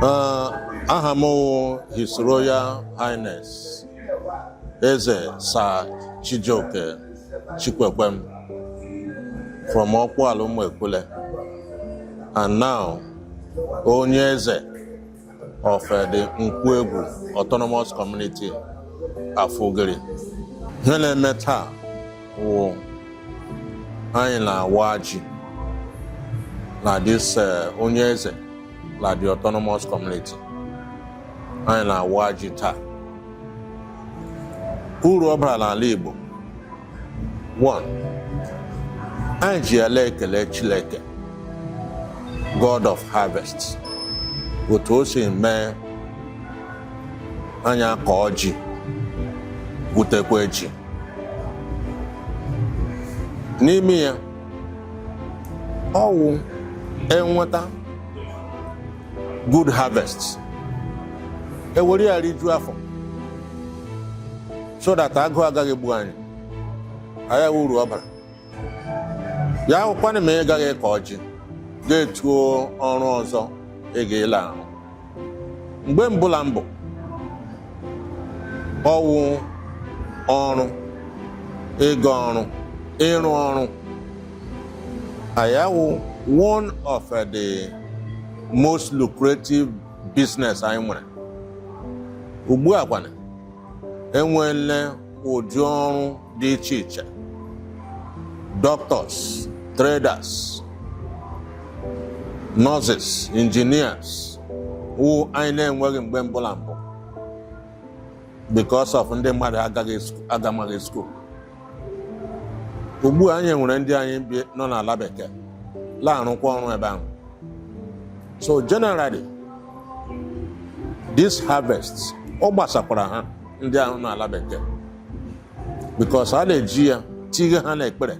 Uh, aha m wụ His Royal Highness Eze Sir Chijioke Chikwekwem from Ọkpụala Ụmụekwule and now onye eze of uh, the Nkwoegwu Autonomous Community Afugiri ihe na-eme taa wụ anyị na-awa ji na this uh, onye eze na the autonomous community anyị na-awa ji taa uru ọ bara n'ala Igbo one anyị ji ya la-ekele Chineke God of harvest otu o si mee anyị akọọ ji gwutekwa ji n'ime ya ọ wụ e nweta good harvest e were ya rijuo afọ so that agụụ agaghị egbu anyị aya wụ uru ọ bara ya awụkwanụ ma ị gaghị akọ ji gaa tuo ọrụ ọzọ ị ga la-arụ mgbe mbụ la mbụ ọ wụ ọrụ ịga ọrụ ịrụ ọrụ aya wụ one of the most lucrative business anyị nwere ugbu a kwanụ e nweela ụdị ọrụ dị iche iche doctors traders nurses engineers wụ anyị na-enweghị mgbe mbụ la mbụ because of ndị mmadụ agaghị sku- agamaghị school ugbu a anyị nwere ndị anyị bi nọ n'ala bekee na-arụkwa ọrụ ebe ahụ so generally this harvest ọ gbasakwara ha ndị ahụ n'ala bekee because a na-eji ya tighe ha n'ekpere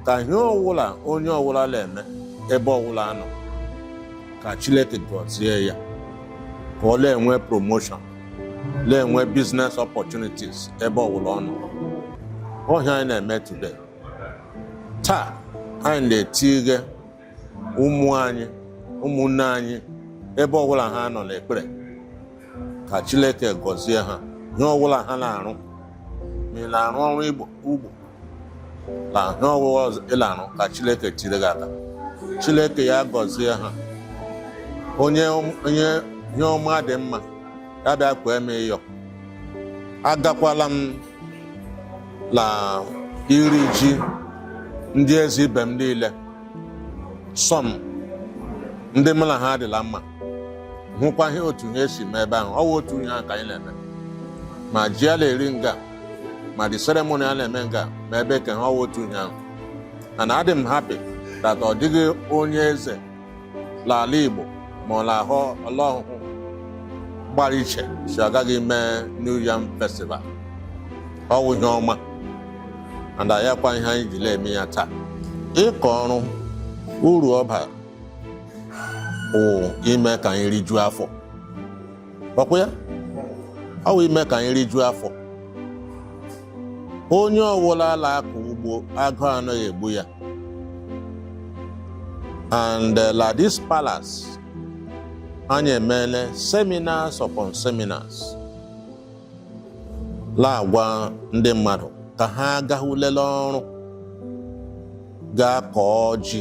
ka ihe ọwụla onye ọwụla na-eme ebe ọwụla ọ nọ ka Chineke gọzie ya ka ọ na-enwe promotion na-enwe business opportunities ebe ọwụla ọ nọ ọ ihe anyị na-eme today taa anyị na-etighe ụmụ anyị ụmụnne anyị ebe ọwụla ha nọ n'ekpere ka Chineke gọzie ha ihe ọwụla ha na-arụ ma ị na-arụ ọrụ ugbo na ihe ọwụla ị la-arụ ka Chineke tiri gị aka Chineke ya gọzie ha onye ihe ọma dị mma ya bịa kwee m ịyọ agakwala m na iri ji ndị eze ibe m niile some ndị mụ na ha dị la mma hụkwa ihe otu ha esi mee ebe ahụ ọ wụ otu ihe ahụ ka anyị na-eme ma ji a na-eri nga ma the ceremony a na-eme nga ma ebe ka ha ọ wụ otu ihe ahụ and adị m happy that ọ dịghị onye eze n'ala Igbo ma ọ na-ahụ la Ọhụhụ gbara iche sị agaghị ime New Yam Festival ọ wụ ihe ọma and ayakwa ihe anyị ji na-eme ya taa ịkọ ọrụ uru ọ bara bụ ime ka anyị rijuo afọ ọkwa ya ọ wụ ime ka anyị rijuo afọ onye ọwụla la-akọ ugbo agụụ anaghị egbu ya and uh, la this palace anyị emeela seminars upon seminars na-agwa ndị mmadụ ka ha gaa lele ọrụ gaa kọọ ji